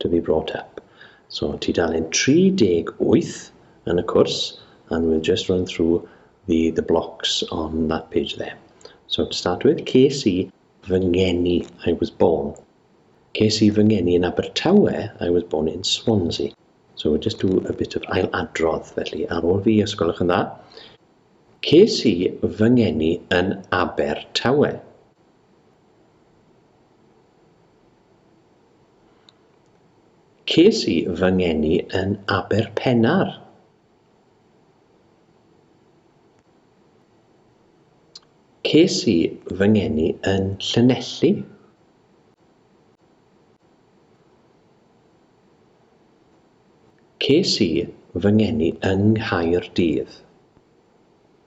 to be brought up. So tudalen 38 yn y cwrs, and we'll just run through the, the blocks on that page there. So to start with, ces i fy ngeni, I was born. Ces i fy ngeni yn Abertawe, I was born in Swansea. So we'll just do a bit of ail adrodd, felly ar ôl fi, os gwelwch yn dda. Ces i fy ngeni yn Abertawe. Ces i fy ngeni yn Aberpennar. Ces i fy ngeni yn Llanelli. Ces i fy ngeni yng Nghaerdydd.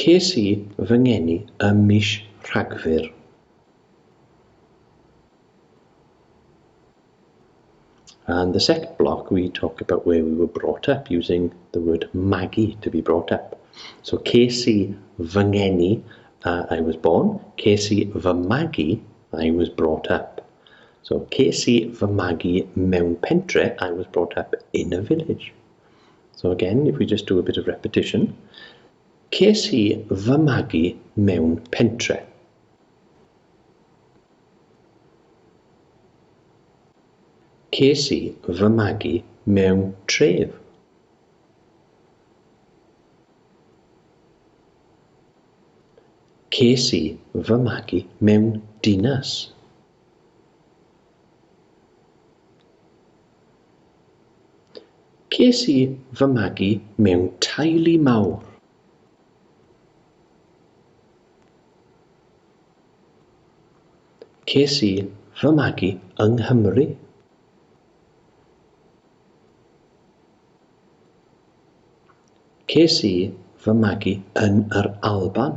Ces i fy ngeni ym mis Rhagfyr. And the second block we talk about where we were brought up using the word magu to be brought up. So ces i fy ngeni, uh, I was born, ces i fy magu, I was brought up. So ces i fy magu mewn pentre, I was brought up in a village. So again, if we just do a bit of repetition, ces i fy magu mewn pentre. Ces i fy magu mewn tref. Ces i fy magu mewn dinas. Ces i fy magu mewn teulu mawr. Ces i fy magu yng Nghymru. Ces i fy magu yn yr Alban.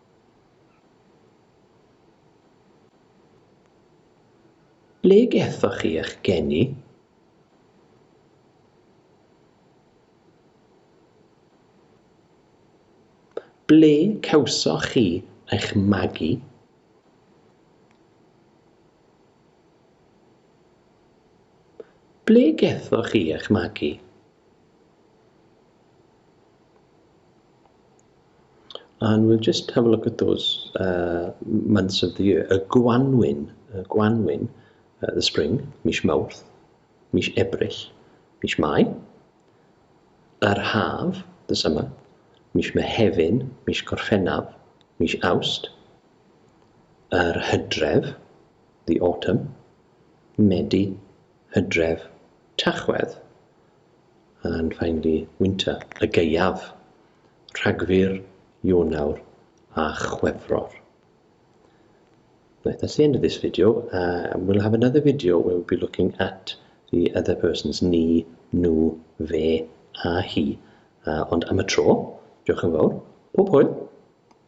Ble gaethoch chi eich geni? Ble cawsoch chi eich magu? Ble gaethoch chi eich magu? And we'll just have a look at those uh, months of the year. Y gwanwyn, y gwanwyn, uh, the spring, mis mawrth, mis ebrill, mis mai. Yr haf, the summer, mis mehefin, mis gorffennaf, mis awst. Yr hydref, the autumn, medi, hydref, tachwedd. and finally winter, y gaeaf, Rhagfyr, Ionawr a Chwefror. Right, that's the end of this video. Uh, we'll have another video where we'll be looking at the other person's ni, nhw, fe a hi. Uh, ond am y tro, diolch yn fawr. Pob hwyl!